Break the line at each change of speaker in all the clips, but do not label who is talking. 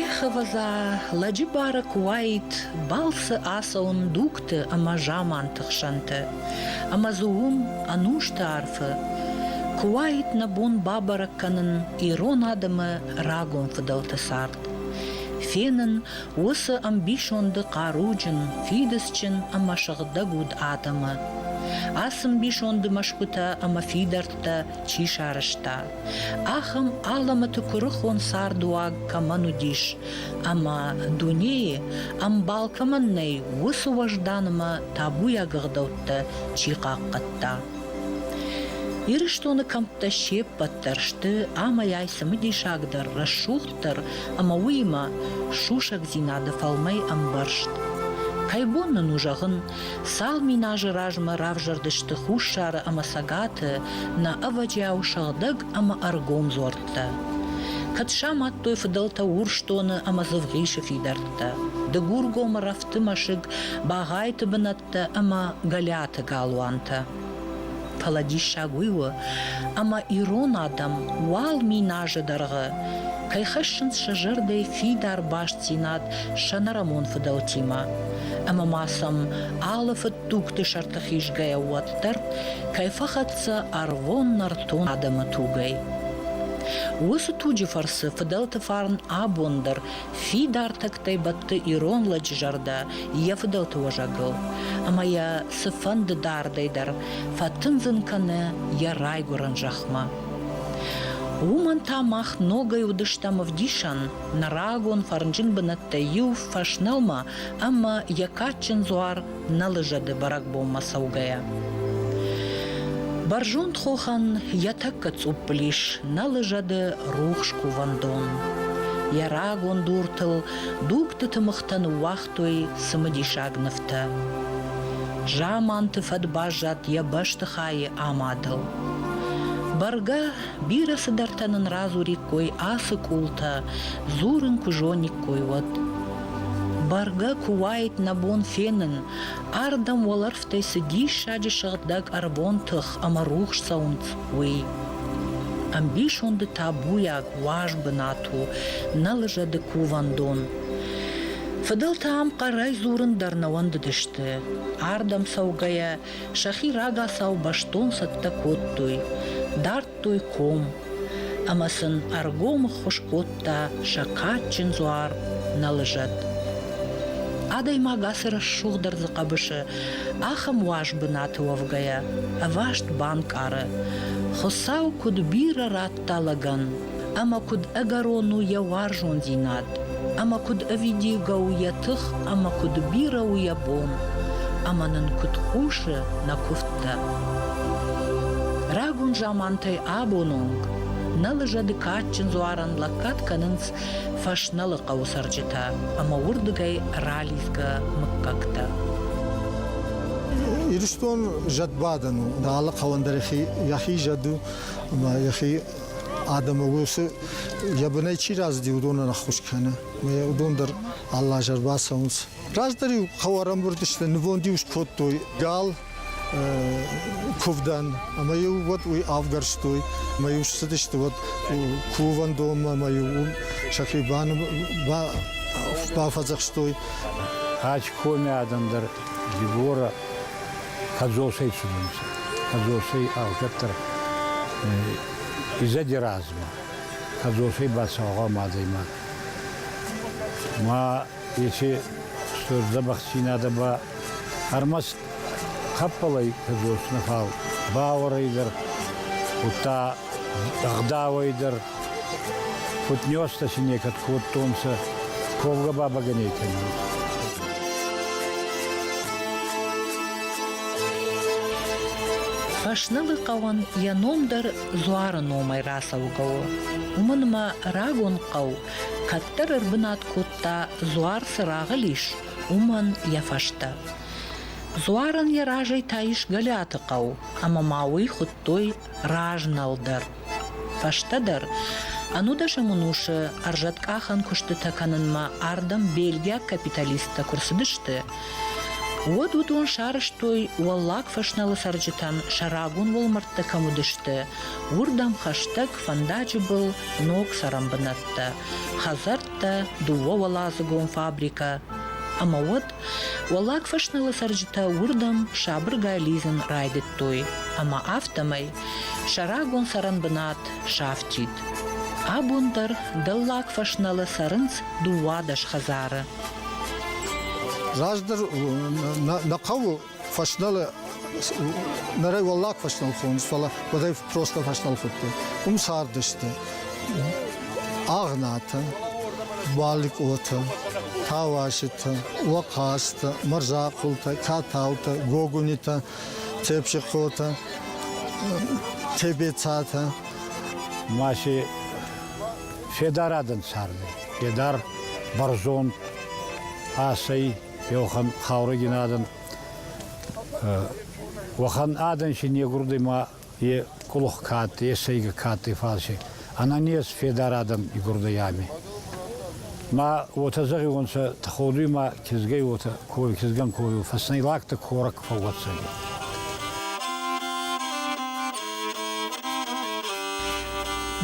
Ӕхӕвӕдза лӕджы бары куы уаид балцы ацӕуын дугты ӕмӕ заманты хсӕнты, ӕмӕ дзы уым ӕнусты арфы куы уаид нӕ бон бабӕрӕг кӕнын ирон адӕмы рагон фыдӕлты цард, фенын Уыцы ӕмбисонды хъаруджын, фидыцджын ӕмӕ сыгъдӕг уыд адӕмы. Ацы мбисонды мӕсгуытӕ ӕмӕ фидӕрттӕ чи сарӕзта, ахӕм алӕмӕты куырыхон цардуаг кӕмӕн уыдис ӕмӕ, дунейы ӕмбал кӕмӕн нӕй, уыцы уӕзданмӕ табуйаг ӕгъдӕуттӕ чи хъахъхъӕдта. Ирыстоны кӕмттӕ се ппӕт дӕр сты амӕй-ай цымыдисагдӕр рӕсугъд дарддӕр ӕмӕ уыимӕ сусӕгдзинады фӕлмӕй ӕмбӕрзт. Кӕй бон нын у зӕгъын, цал мин азы размӕ равзӕрдысты Хуссары ӕмӕ Цӕгаты нӕ ӕвӕджиау сыгъдӕг ӕмӕ ӕргом дзуӕрттӕ? Кӕд самадтой фыдӕлтӕ Урсдоны ӕмӕ Дзывгъисы фидӕрттӕ? Дыгургомы рӕфты мӕсыг, Багъайты бынат Дӕ ӕмӕ Голиаты галуантӕ. Фӕлӕ диссаг уый у, ӕмӕ ирон адӕм уал мин азы дӕргъы кӕй хӕссынц сӕ зӕрдӕйы фидар бастдзинад сӕнӕрӕмон фыдӕлтимӕ, ӕмӕ ма сӕм алы фыдтугты сӕрты хизгӕйӕ уӕддӕр кӕй фӕхӕццӕ ӕрвон нӕртон адӕмы тугӕй. Уыцы туджы фӕрцы фыдӕлты фарн абон дӕр Фидар тӕгтӕй бӕтты ирон лӕджы зӕрдӕ йӕ фыдӕлты уӕзӕгыл ӕмӕ йӕ цыфӕнды дардӕй дӕр фӕтындзын кӕны йӕ райгуырӕн зӕхмӕ. Уымӕн та мах ногӕй уыдыстӕм ӕвдисӕн нӕ рагон фӕрнджын бынӕттӕй иу фӕснӕлмӕ ӕмӕ йӕ кадджын дзуар нӕлызӕды бӕрӕгбонмӕ цӕугӕйӕ. Бӕрзонд хохӕн йӕ тӕккӕ цъуппыл ис нӕлызӕды рухс кувӕндон. Йӕ рагон дуртыл дугтыты мыхтӕ ныууагътой цымыдисаг нывтӕ. Заманты фӕд баззад йӕ бӕстыхайы амадыл. Бӕргӕ, бирӕ цыдӕртӕ нын радзуриккой ацы къултӕ, дзурын куы зониккой, уӕд. Бӕргӕ куы уаид нӕ бон фенын, ардӕм уӕлӕрвтӕй цы диссаджы сыгъдӕг ӕрвон тых ӕмӕ рухс цӕуынц, уый. Ӕмбисонды табуйаг, уаз бынат у, нӕ лыжӕды кувӕндон. Фыдӕлтӕ ам хъӕрӕй дзурын дӕр нӕ уӕндыдысты. Ардӕм цӕугӕйӕ сӕхи рагацау бӕстон цӕттӕ кодтой. Дард кодтой ком ӕмӕ сын ӕргом ӕххуыс кодта сӕ кадджын дзуар Нӕлызӕт. Адӕймаг ацы рӕсугъдӕрдзы хъӕбысы ахӕм уаз бынаты уӕвгӕйӕ ӕваст банкъары, Хуыцау куыд бирӕ радта лӕгӕн, ӕмӕ куыд ӕгӕрон у йӕ уарзондзинад, ӕмӕ куыд ӕвидийгӕ у йӕ тых ӕмӕ куыд бирӕ у йӕ бон, ӕмӕ нын куыд хъусы нӕ куывдтӕ. Рагон замантӕй абон онг нӕ лыжӕды кадджын дзуарӕн лӕггад кӕнынц фӕснӕлы хъӕуы цӕрджытӕ ӕмӕ уырдыгӕй ралидзгӕ мыггӕгтӕ. Ирыстон
зӕдбадӕн у. Алы хъӕуӕн дӕр йӕхи зӕд у ӕмӕ йӕхи адӕмы уыцы йӕ бынӕй чи рӕзыди, уыдонӕн ӕххуыс кӕны. Уыдон дӕр алы аз ӕрбацӕуынц. Раздӕр-иу хъӕу ӕрӕмбырд сты, нывонд-иу скодтой гал, куывдӕн, ӕмӕ-иу уӕд уый авгӕрстой, ӕмӕ-иу ссыдысты уӕд кувӕндонмӕ, ӕмӕ-иу сӕхи бафӕдзӕхстой.
Ачкоми адӕм дӕр Дебора Кӕдзосӕй цудӕнцӕ. Кӕдзосӕй алкӕддӕр изӕди размӕ. Кӕдзосӕй ба цаугъам адӕймаг. Ма еци стур дзӕбӕхдзийнадӕ ба ӕрмӕст хӕппӕлӕй кӕдзос нӕ фал, бауӕрӕй дӕр, удта ӕгъдауӕй дӕр Футнёстӕ си некӕд кодтонцӕ ковгӕ бабагӕней кӕнун.
Фӕснылы хъӕуӕн йӕ ном дӕр Дзуары номӕй рацӕугӕ у. Уымӕн ӕмӕ рагон хъӕу кӕддӕр ӕрбынат кодта дзуар цы рагъыл ис, уымӕн йӕ фӕстӕ. Дзуарӕн йӕ разӕй та ис Гӕлиаты хъӕу, ӕмӕ ма уый хуыдтой Разнал дӕр. Фӕстӕдӕр, ӕнудӕсӕм ӕнусы ӕрзӕткъахӕн куыстытӕ кӕнынмӕ ардӕм бельгиаг капиталисттӕ куы рцыдысты, уӕд уыдон сарӕзтой Уӕллаг Фӕсналы цӕрджытӕн сӕ рагон уӕлмӕрдтӕ кӕм уыдысты, уырдӕм хӕстӕг фӕндаджы был ног цӕрӕнбынӕттӕ, хӕдзӕрттӕ, дыууӕуӕладзыгон фабрикӕ ӕмӕ уӕд Уӕллаг фӕснылы цӕрджытӕ уырдӕм сабыргай лидзын райдыдтой, ӕмӕ афтӕмӕй сӕ рагон цӕрӕн бынат сафтид. Абон дӕр Дӕллаг фӕснылы цӕрынц дыууадӕс хӕдзары. Раздӕр
нӕ хъӕуы Фӕсналы нырӕй уӕллаг фӕснал хонынц, фӕлӕ уӕдӕй просто фӕснал хуыдтой. Уым цардысты Агънатӕ, Баликъотӕ, Тауаситӕ, Лохастӕ, Мӕрзахъултӕ, Тӕтаутӕ, Гогунитӕ, Тепсихъотӕ, Тебецатӕ. Маси
федар адӕн царды. Федар бӕрзонд асӕй Еухан хаурӕгин адӕн. Уӕхӕн адӕн си негурдӕй ма е къулух ка адтӕй, е сӕйгӕ ка адтӕй фалси. Ананес федар адӕн игурдӕй ами. Ма уотӕ зӕгъиуонцӕ, тходуй ма кизгӕй уотӕ кови, кизгӕн ковиу, фӕснӕй лӕгтӕ корӕг фӕууӕддзӕнӕй.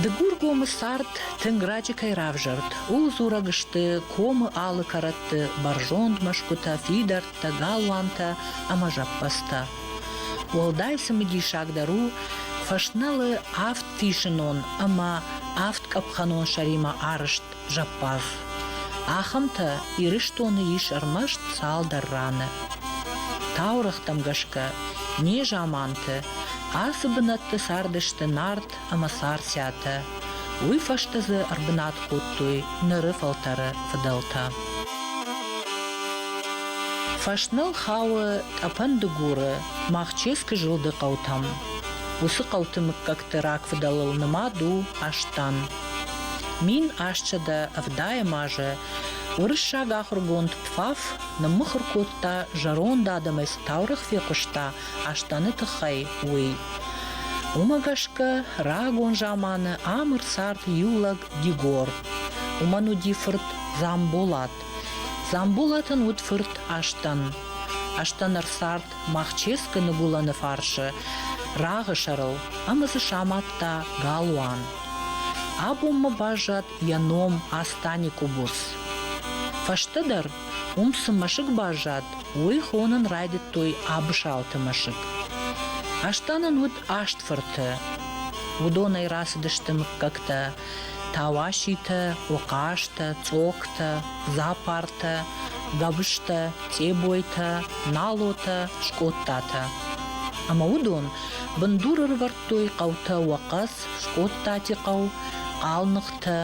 Дыгургомы цард тынг раджы кӕй равзӕрд, ууыл дзурӕг сты комы алы кӕрӕтты сӕргълӕууӕгты бӕрзонд мӕсгуытӕ, фидӕрттӕ, галуантӕ ӕмӕ зӕппӕдзтӕ. Уӕлдай цымыдисагдӕр у, фӕснӕлы авд фисынон ӕмӕ авд къӕпхӕнон сӕримӕ арызт зӕппадз. Ахӕмтӕ Ирыстоны ис ӕрмӕст цалдӕр раны. Таурӕгътӕм гӕсгӕ, незаманты ацы бынӕтты цардысты нард ӕмӕ царциатӕ, уый фӕстӕ дзы ӕрбынат кодтой ныры фӕлтӕры фыдӕлтӕ. Фӕсныл хауы Тъӕпӕн-Дыгуры Махческы зылды хъӕутӕм. Уыцы хъӕуты мыггӕгты рагфыдӕлыл нымад у Астан. Мин астсӕдӕ ӕвдайӕм азы уырыссаг ахуыргонд Пфаф ныммыхуыр кодта зӕронд адӕмӕй цы таурӕгъ фехъуыста, Астаны тыххӕй, уый. Уымӕ гӕсгӕ рагон заманы ӕмыр цард иу лӕг Дигор. Уымӕн уыди фырт Дзамболат. Дзамболатӕн уыд фырт Астан. Астан ӕрцард Махческы ныгуылӕны фарсы рагъы сӕрыл ӕмӕ дзы самадта галуан. Абонмӕ баззад йӕ ном Астани Къубус. Фӕстӕдӕр Уым цы мӕсыг баззад, уый хонын райдыдтой Абысалты мӕсыг. Астан ын уыд аст фырты. Уыдонӕй рацыдысты мыггӕгтӕ Тауаситӕ, Ухъазтӕ, Цъоктӕ, Запартӕ, Гӕбыстӕ, Цъебойтӕ, Налотӕ, Скъодтатӕ. Ӕмӕ уыдон бындур ӕрӕвӕрдтой хъӕутӕ Уӕхъӕц, Скъодтати хъӕу, Хъалныхтӕ,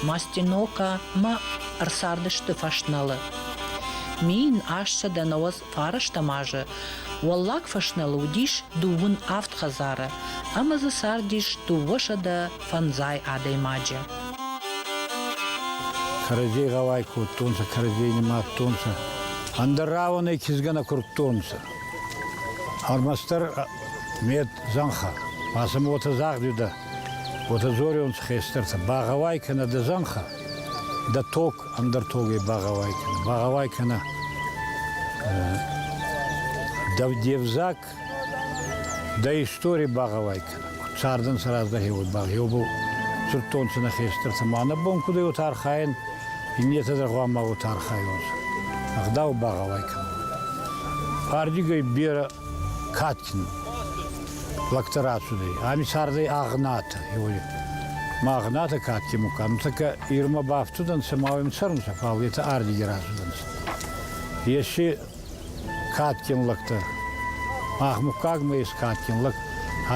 Мастинока мӕ ӕрцардысты фӕснӕлы. Мин ассӕдӕнауӕдз фарӕстӕм азы Уӕллаг фӕснӕлы уыдис дыууын авд хӕдзары ӕмӕ дзы цардис дыууӕсӕдӕ фӕндзай адӕймаджы.
Кӕрӕдзей гъӕуай кодтонцӕ, кӕрӕдзей нимадтонцӕ, ӕндӕр рауӕнӕй кизгӕ нӕ курдтонцӕ. Ӕрмӕстдӕр мет зӕнхӕ, ма сӕм уотӕ загъдиудӕ, Уотӕ дзорионцӕ хестӕртӕ, багъӕуай кӕнӕ дӕ зӕнхӕ, дӕ тог, ӕндӕр тогӕй багъӕуай кӕнӕ, багъӕуай кӕнӕ дӕ взаг, дӕ истори багъӕуай кӕнӕ. Куд цардӕнцӕ раздӕхе, уой багъеубӕл цудтонцӕ нӕ хестӕртӕ ма нӕ бон куд ӕй уотӕ архайӕн, иннетӕ дӕр гъуамӕ уотӕ архайонцӕ. Ӕгъдау багъӕуай кӕнун. Ардигӕй берӕ кадджын лӕгтӕ рацудӕй. Ами цардӕй Агънатӕ. Магънатӕ кадти мукан. Така Ирма бафтудӕнцӕ, ма уӕм цӕрунцӕ, фал етӕ ардиги рацудӕнцӕ. Еци кадгин лӕгтӕ, махмуккагмӕ ес кадгин лӕг,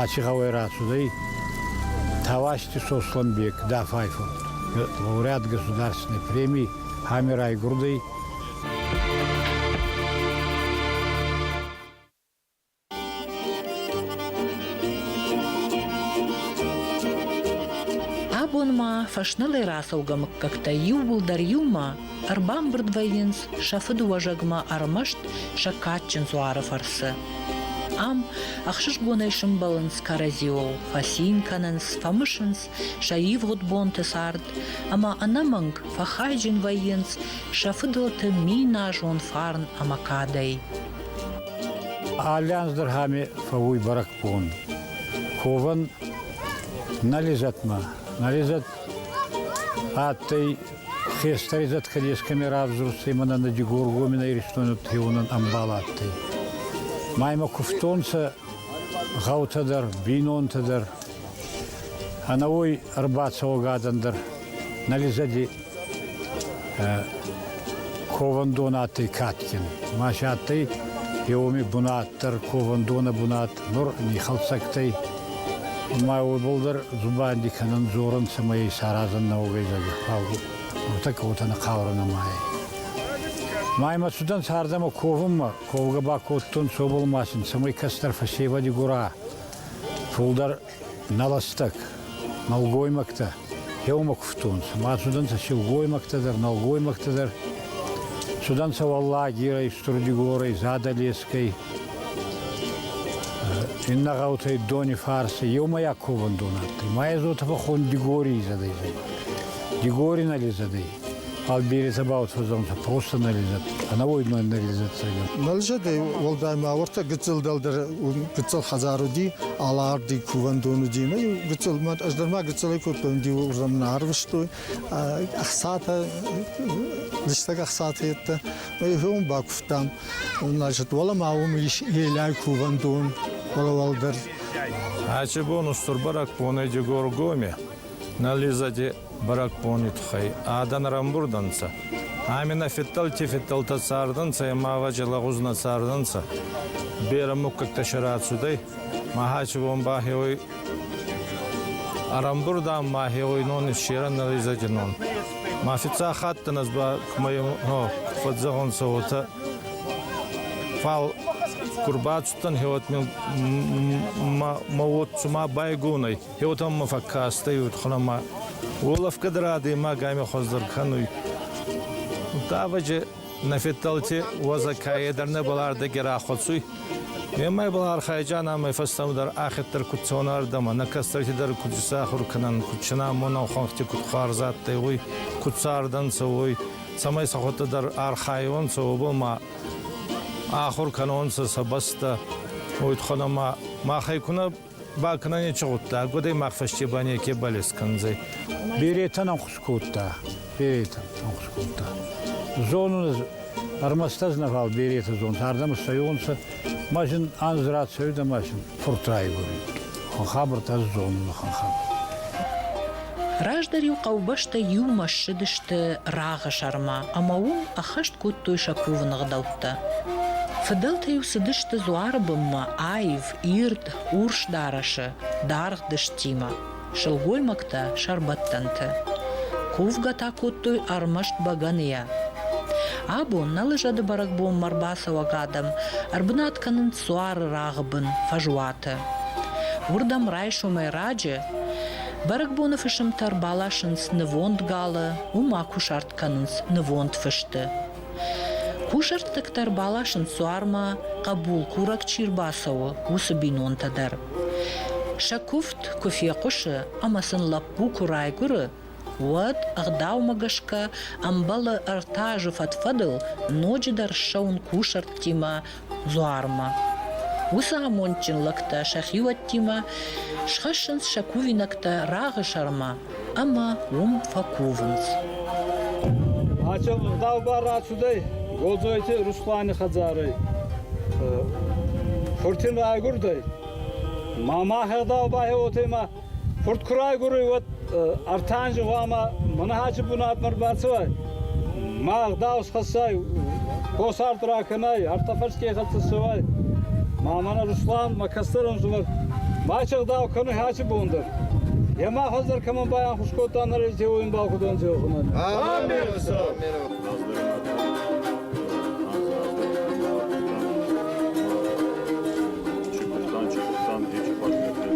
ачи гъӕуӕй рацудӕй Тавасти Сослӕнбек, Дафай фурт. Лауреат государственной премии ами райгурдӕй
Абонмӕ фӕснылӕй рацӕугӕ мыггӕгтӕ иууылдӕр иумӕ ӕрбамбырд вӕййынц сӕ фыдыуӕзӕгмӕ ӕрмӕст сӕ кадджын дзуары фӕрцы. Ам ӕхсызгонӕй сымбӕлынц кӕрӕдзиуыл, фӕцин кӕнынц, фӕмысынц Сӕ ивгъуыд бонты цард ӕмӕ ӕнӕмӕнг фӕхайджын вӕййынц сӕ фыдӕлты миназон фарн ӕмӕ кадӕй.
Аллианз дӕр ами фӕууй бӕрӕгбон. Ковӕн нӕ лизӕтмӕ. Нӕ лизӕт адтӕй хестӕр изӕткӕ дескӕми равзурстӕй мӕнӕ Дигоргомин Иристони треуонӕн ӕмбал адтӕй. Ма имӕ кувтонцӕ гъӕутӕ дӕр, бийнонтӕ дӕр, Ӕнӕуой ӕрбацӕуӕгадзӕн дӕр нӕ лизӕди ковӕндонадтӕй кадгин. Ма си адтӕй е уоми бунат дӕр, ковӕндонӕ бунат, нур нихӕлцӕгтӕй. Ма уобӕл дӕр дзубанди кӕнун дзорун, цӕмӕй исаразӕн нӕ уогӕй зӕгӕ. Фал уотӕ ка уотӕ нӕ хъаурӕ нӕма ӕй. Ма имӕ цудӕнцӕ ардӕмӕ ковунмӕ, ковгӕ ба кодтонцӕ уобӕл ма син, цӕмӕй кӕстӕр фӕсевӕди гора Фулдӕр нӕлӕстаг нӕлгоймӕгтӕ еумӕ кувтонцӕ. Ма цудӕнцӕ силгоймӕгтӕ дӕр, нӕлгоймӕгтӕ дӕр. Цудӕнцӕ Уӕллагирӕй, Стурдигорӕй, Задӕлескӕй, иннӕ гъӕутӕй Донифарси. Еумӕйаг ковӕндон адтӕй. Ма ӕ зотӕ фӕххон Дигорий изӕдӕй зӕгъӕн. Дигори нӕ ледзӕдӕй. фал бере сӕбауцӕудзӕнцӕ профессионализат, ӕнӕуоймӕйнӕлизацигӕ. Нӕлзадӕй уӕлдай
ма уартӕ гыццыл дӕлдӕр гыццыл хӕдзар уди, аларди кувӕндон уди, нӕ гыццыл, ӕз дӕр ма гыццылӕй кодтон, диу уырдӕм нӕ арвыстой, ӕхцатӕ, листӕг ӕхцатӕ еттӕ, мӕ бакувтам. Значит, уӕлӕ ма уым елӕй кувӕндон, уӕлӕ уӕлдӕр. Ачи
бон устурбарак понӕ Дегор Гоме, нализаде Бӕрӕгбони туххӕй адӕн рамбурд ӕнцӕ. Ами нӕ федтӕлти-федтӕлтӕ цардӕнцӕ, ӕма ваче лӕгъузнӕ цардӕнцӕ. Берӕ муггӕгтӕ сӕ рацудӕй, ма хачи бон ба хеуой ӕрӕмбурдан ма хеуой нон иссерӕн нӕризӕги нон. Ма фиццаг хаттан ez ба кумӕ фӕдзӕгъунцӕ, уотӕ фал ку рбацудтӕн, хеуӕт мӕ уод цума байгон ӕй. Еутӕммӕ фӕккастӕй удхунӕмӕ, уолӕфгӕ дӕр адӕймаг ами хуӕздӕр кӕнуй. Давӕджи нӕ федтӕлти уӕзӕкӕйе дӕр нӕбал ӕрдӕги рахуӕцуй. Немӕйбал архайджан ӕмӕ фӕстӕмӕдӕр ӕхеддӕр куд цонӕрдӕмӕ, нӕ кӕстӕрти дӕр куд исахур кӕнӕн, куд синамонӕн хуӕнхти куд хуарз адтӕй, уой, куд цардӕнцӕ, уой, цӕмӕй сӕхуӕдтӕ дӕр архайонцӕ, уобӕл ма ахур кӕнонцӕ сӕ бӕстӕ. Удхунӕмӕ махӕй ку нӕ Ба кенӕ нечи гъудта, адӕймаг фӕсте ба неке балес кӕндзӕй. Беретӕн ӕнхус
кодта. Беретӕн ӕнхус кодта. Зонун, ӕрмӕст ӕз нӕбал беретӕ зонтӕ, ардӕм ссӕйонцӕ, ма зин анз рацӕуидӕ ма син фурт райгурид. Хабӕрт ӕз зонун, ахӕм хабӕрт. Раздӕр-иу
хъӕубӕстӕ иумӕ ссыдысты рагъы сӕрмӕ ӕмӕ уым ӕххӕст кодтой сӕ кувыны гъдӕуттӕ. Фыдӕлтӕ-иу цыдысты дзуары бынмӕ аив, ирд урс дарӕсы даргъ дыстимӕ, сылгоймӕгтӕ сӕрбӕттӕнты. Кувгӕ та кодтой ӕрмӕст бӕгӕныйӕ. Абон нӕ лыжӕды бӕрӕгбонмӕ ӕрбацӕуӕг адӕм ӕрбынат кӕнынц суары рагъы бын фӕзуаты. Уырдӕм райсомӕй раджы бӕрӕгбоны фысымтӕ ӕрбаласынц нывонд галы, уым акусарт кӕнынц нывонд фысты. Кусӕрттӕгтӕ рбаласынц суармӕ, хъӕбулкурӕг чи рбацӕуы, уыцы бинонтӕ дӕр. Сӕ куывд куы фехъуысы ӕмӕ сын лӕппу куы райгуыры, уӕд, ӕгъдаумӕ гӕсгӕ, ӕмбӕлы ӕртӕ азы фӕд-фӕдыл ноджыдӕр ссӕуын кусӕрттимӕ дзуармӕ. Уыцы амондджын лӕгтӕ сӕ хиуӕттимӕ схӕссынц сӕ кувинӕгтӕ рагъы сӕрмӕ ӕмӕ уым фӕкувынц.
Ача ӕгъдау бар рацудӕй Голдзойти Русланы хӕдзарӕй. Фуртимӕ агурдӕй. Ма мӕ ӕгъдау бахеуотӕй ма Хурд куы райгуырой, уӕд ӕртӕ анзы хъуамӕ Мӕнӕхӕджы бунатмӕ ӕрбацӕуай, ма ӕгъдау схӕссай, хосард ракӕнай, артафӕрсгӕй хӕццӕ цӕуай. Ма мӕнӕ Руслан, мӕ кӕстӕрон зумӕг, мачи ӕгъдау кӕнуй Хӕчи бон дӕр. Е ма хуӕздӕр кӕмӕн байанхус кодта нӕрейдзеуо имбал худон дзеохунӕн. Амин, Хуцау! Чи куыдтам, чи
куыдтам, дечы партнерты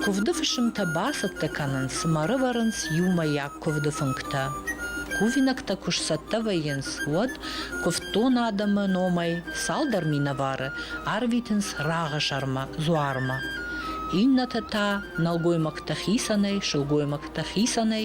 Куывды фысымтӕ бацӕттӕ кӕнынц, цыма рывӕрынц иумӕйаг куывды фынгтӕ. Кувинӕгтӕ куы сцӕттӕ вӕййынц, уӕд куывддон адӕмы номӕй цалдӕр минӕвары арвитынц рагъы сӕрмӕ дзуармӕ. Иннӕтӕ та нӕлгоймӕгтӕ хицӕнӕй, сылгоймӕгтӕ хицӕнӕй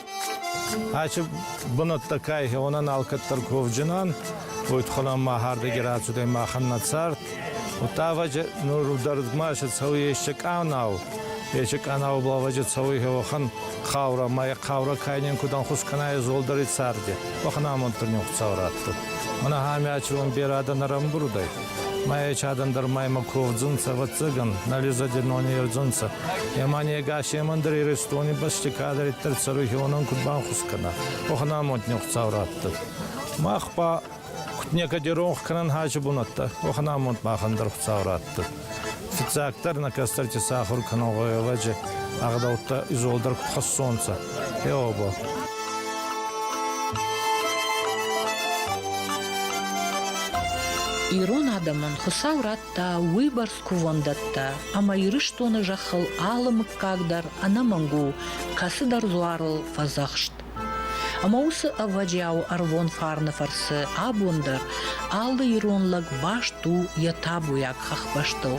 Ачи бунӕттӕ кайхи, онӕн алкӕддӕр ковджинан, уйтхунӕн ма хӕрдеги рацудӕй махӕн нӕ цард. Утаваджи нурдӕргмаси цӕуй ещё къанау. Ещё къанау балваджи цӕуй уӕхӕн хаурӕ, ма е хаурӕ кайнен кудан хус кӕна е золдари царди. Уӕхӕн амонддӕр нихцау раттуд. Мӕнӕ ами ачи уон берӕ адӕн ӕрӕмбурдӕй. Ма ечадӕн дӕр маймӕ ковдзунцӕ, ӕвӕццӕгӕн, нӕ лизоденони ердзунцӕ. Ема негасемӕн дӕр Иристони бӕсти кадӕриддӕр цӕруй хеуонӕн куд банхус кӕна, уӕхӕн амондни Хуцау раттӕд. Мах ба куд некӕди ронх кӕнӕн хӕси бунӕттӕ, уӕхӕн амонд махӕн дӕр Хуцау раттӕд. Фиццагдӕр нӕ кӕстӕрти сахур кӕнун гъӕуӕвӕджи ӕгъдӕуттӕ изолдӕр куд хӕссонцӕ, Е оба.
Ирон адӕмӕн Хуыцау радта уыйбӕрц кувӕндӕттӕ, ӕмӕ Ирыстоны зӕххыл алы мыггаг дӕр ӕнӕмӕнг у кӕцыдӕр дзуарыл фӕдзӕхст. Ӕмӕ уыцы ӕвӕджиауы ӕрвон фарны фӕрцы абон дӕр алы ирон лӕг баст у йӕ табуйаг хӕхбӕстыл.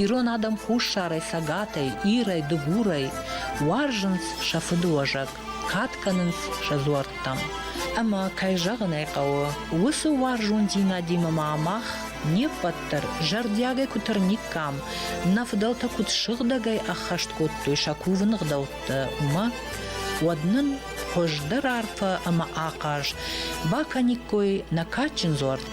Ирон адӕм хуссарӕй, цӕгатӕй, ирӕй, дыгурӕй Уарзынц сӕ фыдыуӕзӕг, кад кӕнынц сӕ дзуӕрттӕм. Ӕмӕ, кӕй зӕгъын ӕй хъӕуы, уыцы уарзондзинадимӕ ма мах не ппӕт дӕр зӕрдиагӕй куы тырниккам, нӕ фыдӕлтӕ куыд сыгъдӕгӕй ӕххӕст кодтой сӕ кувын ӕгъдӕуттӕ, уымӕ, уӕд нын хуыздӕр арфӕ ӕмӕ ахъаз бакӕниккой нӕ кадджын дзуӕрттӕ.